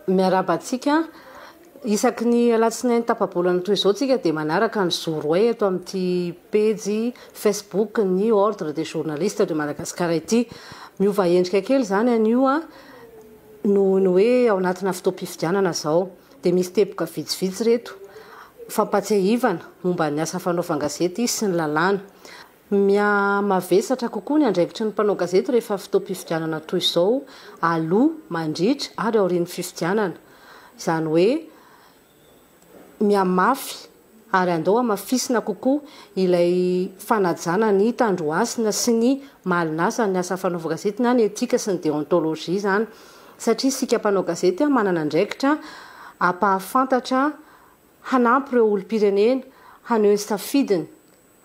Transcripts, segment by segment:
Miarahaba antsika. Isaky ny alatsinainy tapabolana toy izao tsika dia manaraka ny Zoroay eto amin'ity pejy Facebook ny Ordre des journalistes de Madagascar ity. Miova endrika kely izany anio an, noho ny hoe ao anatina fotoam-pifidianana izao. Dia misy teboka vitsivitsy ireto fampatsiahivana momba ny asa fanaovan-gazety sy ny lalàna. Miha-mavesatra kokoa ny andraikitry ny mpanao gazety rehefa fotoam-pifidianana toy izao, aloha, mandritra ary aorian'ny fifidianana. Izany hoe, mihamafy ary andao hamafisina kokoa ilay fanajana ny tandrohasina sy ny malin'asa ny asa fanaovan-gazety na ny etika sy ny deontologie izany. Satria isika mpanao gazety manana andraikitra hampahafantatra, hanampy ireo olom-pirenena haneho ny safidiny.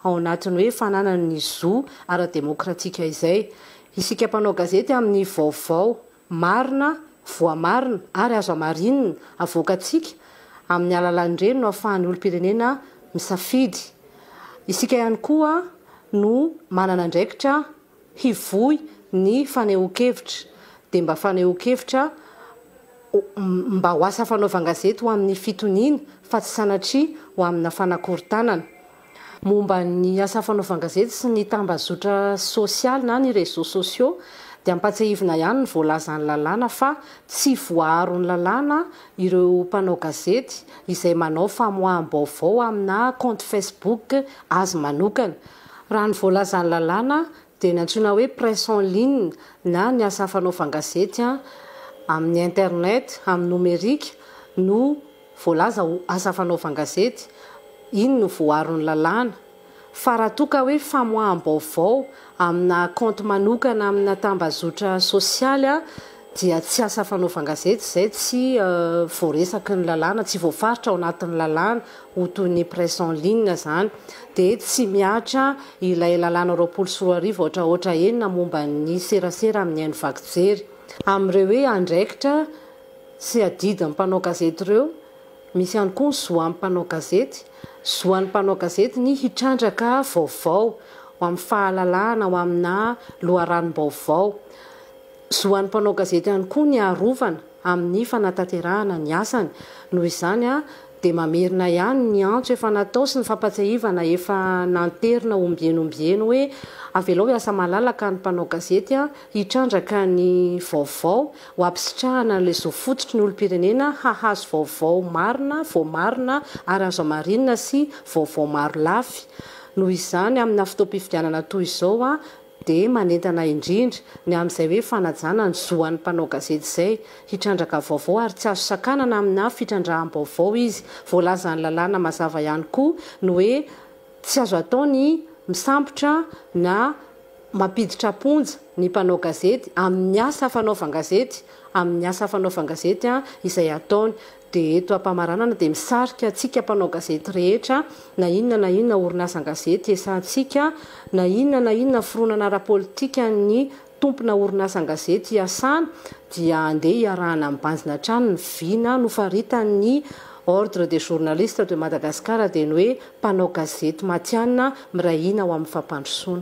ao anatin'ny hoe fananany ny zo ara-demokratika izay. Isika mpanao gazety amin'ny vaovao marina, voamarina ary azo hamarinina avoakantsika amin'ny alalan'ireny no ahafahan'ny olom-pirenena misafidy. Isika ihany koa no manana andraikitra. hivoy ny fanehoan-kevitra dia mba fanehoan-kevitra mba ho asa fanaovan-gazety ho amin'ny fitoniana fa tsy sanatria ho amina fanakorontanana. Momba ny asa fanaovan-gazety sy ny tambazotra sosialy na ny réseaux sociaux dia ampatsiahivina ihany ny voalazan'ny lalàna fa tsy voaaron'ny lalàna ireo mpanao gazety izay manao famoaham-baovao amina kaonty Facebook azy manokana. Raha ny voalazan'ny lalàna dia ny antsoina hoe presse en ligne na ny asa fanaovan gazety amin'ny internet, amin'ny nomerika, no voalaza ho asa fanaovan gazety, iny no voaron'ny lalàna. Fa raha toa ka hoe famoaham-baovao amina kaonty manokana amina tambazotra sosialy, dia tsy asa fanaovan-gazety izay tsy voaresaky ny lalàna, tsy voafaritra ao anatin'ny lalàna, ho toy ny presse en ligne izany, dia tsy mihatra ilay lalàna roapolo sy roa arivo haotrahaotra enina momba ny serasera amin'ny haino vaky jery. Amin'ireo hoe andraikitra sy adidin'ny mpanao gazety ireo, misy ihany koa ny zo an'ny mpanao gazety. Zo an'ny mpanao gazety ny hitrandraka vaovao, ho amin'ny fahalalahana, ho aminà loharanom-baovao. Zo ho an'ny mpanao gazety ihany koa ny harovana amin'ny fanatanterahana ny asany. Noho izany dia mamerina ihany ny antso efa natao sy ny fampatsiahivana efa nanterina ombieny ombieny hoe avelao hiasa malalaka ny mpanao gazety hitrandraka ny vaovao ho hampisitrahana an'ilay zo fototry ny olom-pirenena hahazo vaovao marina, voamarina ary azo hamarinina sy vaovao marolafy. Noho izany amina fotoam-pifidianana toy izao dia manentana indrindra ny amin'izay hoe fanajana ny zo an'ny mpanao gazety izay hitrandraka vaovao ary tsy azo sakanana aminà fitrandraham-baovao izy. Voalazan'ny lalàna mazava ihany koa ny hoe tsy azo atao ny misambotra na mampiditra am-ponja ny mpanao gazety amin'ny asa fanaovan-gazety, amin'ny asa fanaovan-gazety izay ataony. dia eto ampamaranana dia misarika antsika mpanao gazety rehetra na inona na inona orinasan-gazety iasantsika, na inona na inona fironana ara-politika ny tompona orinasan-gazety iasana dia andeha iarahana mibanjina hatrany ny vina nofaritan'ny Ordre des journalistes de Madagascar dia ny hoe mpanao gazety matihanina miray hina ao amin'ny fampandrosoana.